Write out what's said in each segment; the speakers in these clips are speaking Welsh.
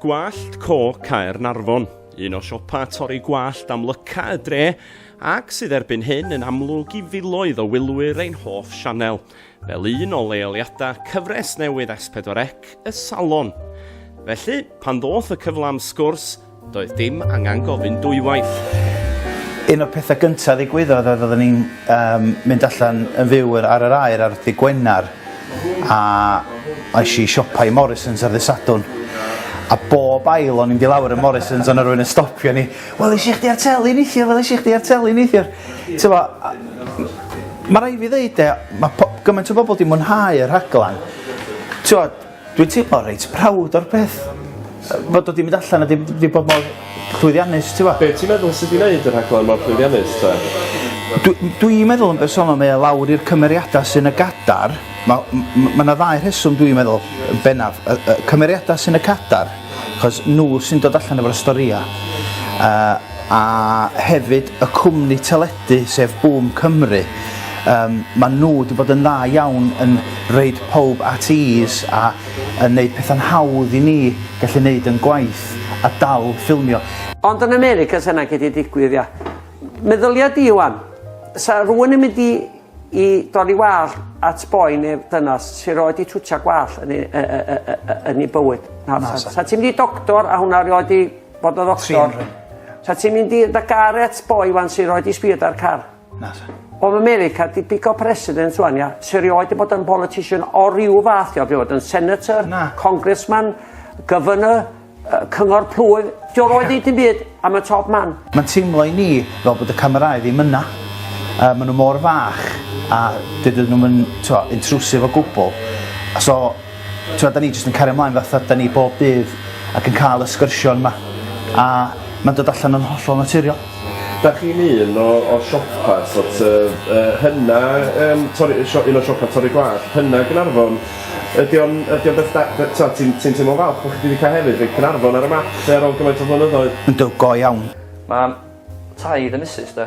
Gwallt Co Caer Narfon, un o siopa torri gwallt amlyca y dre, ac sydd erbyn hyn yn amlwg i filoedd o wylwyr ein hoff sianel, fel un o leoliadau cyfres newydd S4C, y Salon. Felly, pan ddoth y cyfle am sgwrs, Doedd dim angen gofyn dwywaith. Un o'r pethau gyntaf ddigwyddodd oedd oeddwn i'n um, mynd allan yn fyw ar yr aer ar ddi Gwener a eisiau i siopau Morrisons ar ddi Sadwn a bob ail o'n i'n di lawr y Morrisons o'n rhywun yn stopio ni wel eisiau chdi ar teli neithiwr wel eisiau chdi ar teli neithiwr mae rhaid fi ddeud e mae gymaint o bobl di mwynhau y rhaglen ti'n Dwi'n teimlo reit proud o'r peth. Fod o wedi mynd allan a wedi wedi bod mor llwyddiannus ti'n gwbod? Be' ti'n meddwl sy 'di neud y rhaglen mor llwyddiannus te? Dw- dwi'n meddwl yn bersonol mae o lawr i'r cymeriadau sy'n y gadar. Ma' m- m- ma' 'na ddau rheswm dwi'n meddwl yn bennaf. Y y cymeriadau sy'n y cadar achos nhw sy'n dod allan efo'r storïau a a hefyd y cwmni teledu sef Boom Cymru. Um, mae nhw wedi bod yn dda iawn yn reid pob at ease a yn neud pethau'n hawdd i ni gallu neud yn gwaith a dal ffilmio. Ond yn America sy'n ac wedi digwydd, ia. Meddylia di, Iwan, sa rhywun yn mynd i, i dorri wall at boi neu dynas sy'n rhoi di twtio gwall yn ei, yn ei bywyd. Na, na sa. Sa ti'n mynd i doctor a hwnna rhoi di Bod y ddoctor. Sa ti'n mynd i'r da gar et boi wan sy'n rhoi di sbio da'r car? Na, sa. Oedd America di pico president rwan, ia? Sy'n rhoi di bod yn politician o ryw fath, ia? Fi oedd yn senator, Na. congressman, governor, cyngor plwyf. Di o roed i ti'n byd am y top man. Mae'n teimlo i ni fel bod y camerau ddim yna. Uh, maen nhw mor fach a dydyn nhw'n intrusive o gwbl. So, T'wod, 'da ni jyst yn cario mlaen fatha 'da ni bob dydd ac yn ca'l y sgyrsiorn 'ma a ma'n dod allan yn hollol naturiol. 'Dach chi'n un o o siopa sort of yy hyna yym torri yy sio- un o siopa torri gwallt hyna Gaernarfon? Ydi o'n ydi o'n beth da be- t'od ti'n ti'n teimlo'n falch bo' chdi 'di ca'l hefyd rhoi Caernarfon ar y map 'lly ar ôl gymaint o flynyddoedd? Yndw go iawn. Ma'n taith y misus 'de?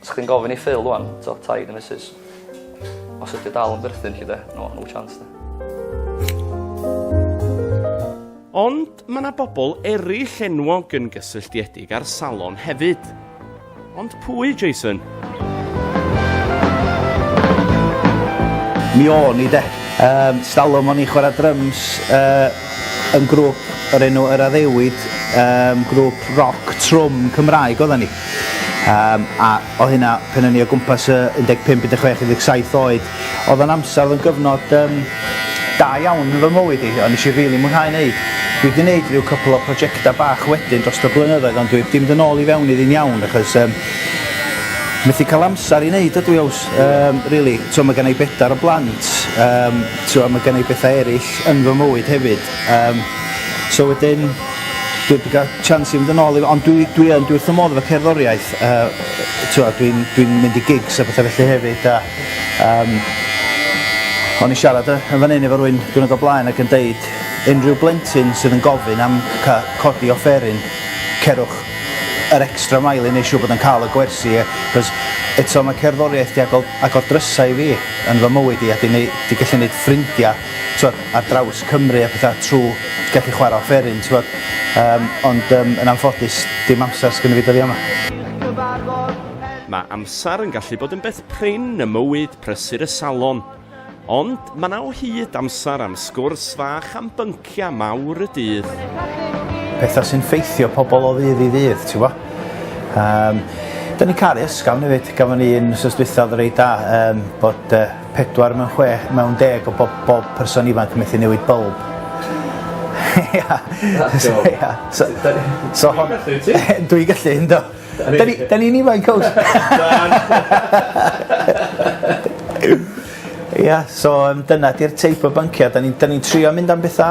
Sa chdi'n gofyn i Phil ŵan, t'o' taid a misus, os ydi o dal yn berthyn 'lly 'de, no no chance 'de. Ond ma' 'na bobl eryll enwog yn gysylltiedig â'r salon hefyd. Ond pwy, Jason? Mi o'n i 'de. Yym 'stalwm o'n i chwara dryms yy yn grwp o'r enw Yr Addewid, um, grwp roc trwm Cymraeg oedden ni. Um, a o hynna, pen o'n i o gwmpas y 15, 16, 17 oed, oedd o'n amser, oedd o'n gyfnod um, da iawn yn fy mywyd i, ond nes i rili really mwynhau wneud. Dwi wedi gwneud rhyw cwpl o prosiectau bach wedyn dros y blynyddoedd, ond dwi wedi mynd yn ôl i fewn iddi'n iawn, achos um, methu cael amser i wneud ydw i aws, um, really. So mae gen i bedair o blant, um, T'wod ma' gen i betha eryll yn fy mywyd hefyd yym so wedyn dwi 'eb 'di ga'l chance i fynd yn ôl i fe ond dwi dwi yn dwi wrth fy modd efo cerddoriaeth yy t'wod dwi'n dwi'n mynd i gigs a petha felly hefyd a yym o'n i siarad yy yn fan 'yn efo rywun diwrnod o blaen ac yn deud unrhyw blentyn sydd yn gofyn am ca- codi offeryn cerwch yr extra mile i neu' siŵr bod yn ca'l y gwersi yy 'c'os eto ma' cerddoriaeth 'di agor agor drysa i fi. yn fy mywyd i a 'di neu- 'di gallu neud ffrindia t'wod ar draws Cymru a petha trw gallu chwara offeryn t'wod yym ond yym yn anffodus dim amsar sgynno fi dyddia 'ma. Mae amsar yn gallu bod yn beth prin ym mywyd prysur y salon ond ma' 'na o hyd amsar am sgwrs fach am bync Parciau mawr y dydd. Pethau sy'n ffeithio pobl o ddydd i ddydd, ti'n bo? Um, da ni'n cael ysgafn hefyd, gafon ni yn sos dwythaf rei da, um, bod uh, pedwar mewn chwe, mewn deg o bob, bob person ifanc yn methu newid bylb. Ia. So, so hon... Dwi'n gallu, ynddo. Da ni'n ifanc, cwrs. Ia so yym dyna 'di'r teip o byncia' 'dan ni'n 'dan ni'n trio mynd am betha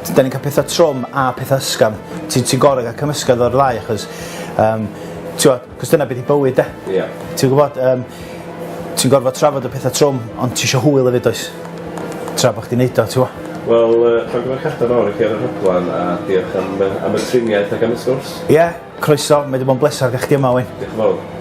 t- 'dan ni'n ca'l petha trwm a petha ysgafn ti ti gor'o' ga'l cymysgedd o'r ddau achos yym t'wo' 'c'os dyna be' 'di bywyd 'de? Ia. Ti gwbod yym ti'n gorfod trafod y petha trwm ond ti isio hwyl efyd does? Tra bo' chdi'n neud o t'mo'? Wel yy llongyfarchiadau mawr i chi ar y rhaglan a diolch am y am y triniaeth ac am y sgwrs. Ia. Croeso, mae 'di bod yn bleser ga'l chdi yma Owain. Dioch yn fowr.